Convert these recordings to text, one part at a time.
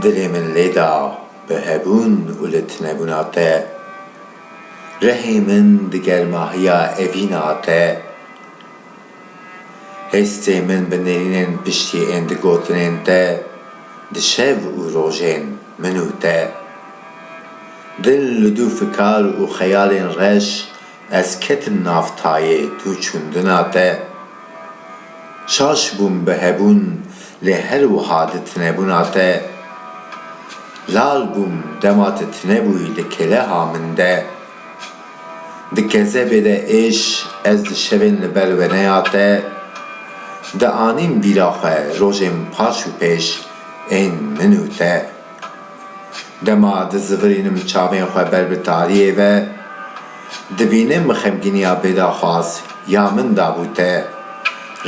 Dilê min lê da bi hebûn û li tinebûna te, Rehê min di germahiya evîna te, Hêstê min bi nêrînên piştî ên di gotinên te, Di şev û rojên min û te. Dil li du fikar û xeyalên reş Ez ketim nav tayê tu çundina te. Şaş bûm bi hebûn lê her wiha di tinebûna te. Lal bûm dema ti tinebûyî di keleha min de. Di kezebê de êş ez di şevên li ber weneya te dianîm bîra xwe rojên paş û pêş ên min û te. Dema dizivirînim çavên xwe ber bi tariyê ve, dibînim xemgîniya bêdaxwaz ya min dabû te.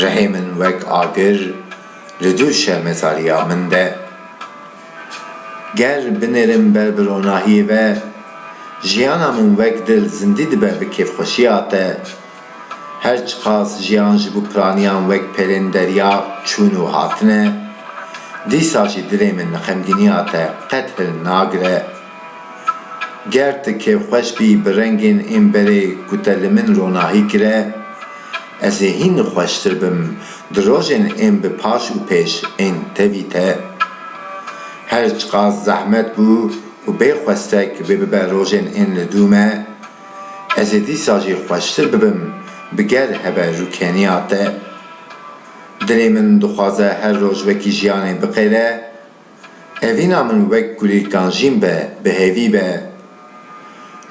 Rihê min wek agir li dû şermezariya min de. Ger binêrim ber bi ronahiyê ve, jiyana min wek dil zindî dibe bi kêfxweşiya te. Her çiqas jiyan ji bo piraniyan wek pelên derya çûn û hatine, dîsa jî dilê min li xemgîniya te qet hil nagire. Ger tu kêfxweş bî bi rengên ên berê ku te li min ronahî kire, ez ê hîn xweştir bim di rojên ên bi paş û pêş ên tevî te. Her çiqas zehmet bû û bê xwestek vê bibe rojên ên li dû me, Ez ê dîsa jî xweştir bibim bi ger hebe rûkeniya te. Dilê min dixwaze her roj wekî jiyanê biqêre. Evîna min wek gulî kanjîn be, bi hêvî be.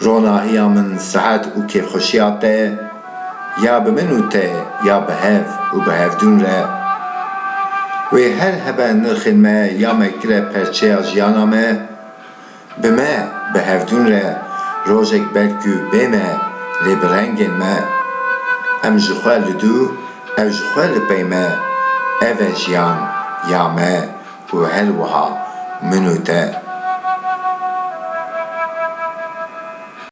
Ronahiya min sihet û kêfxweşiya te ya bi min û te ya bi hev û bi hevdûn re. Wê her hebe nirxên me ya me kire perçeya jiyana me. Bi me, bi hevdûn re rojek ber ku bê me lê bi rengên me. Em ji xwe li dû, ew ji xwe li pey me. Ev e jiyan ya me û her wiha min û te.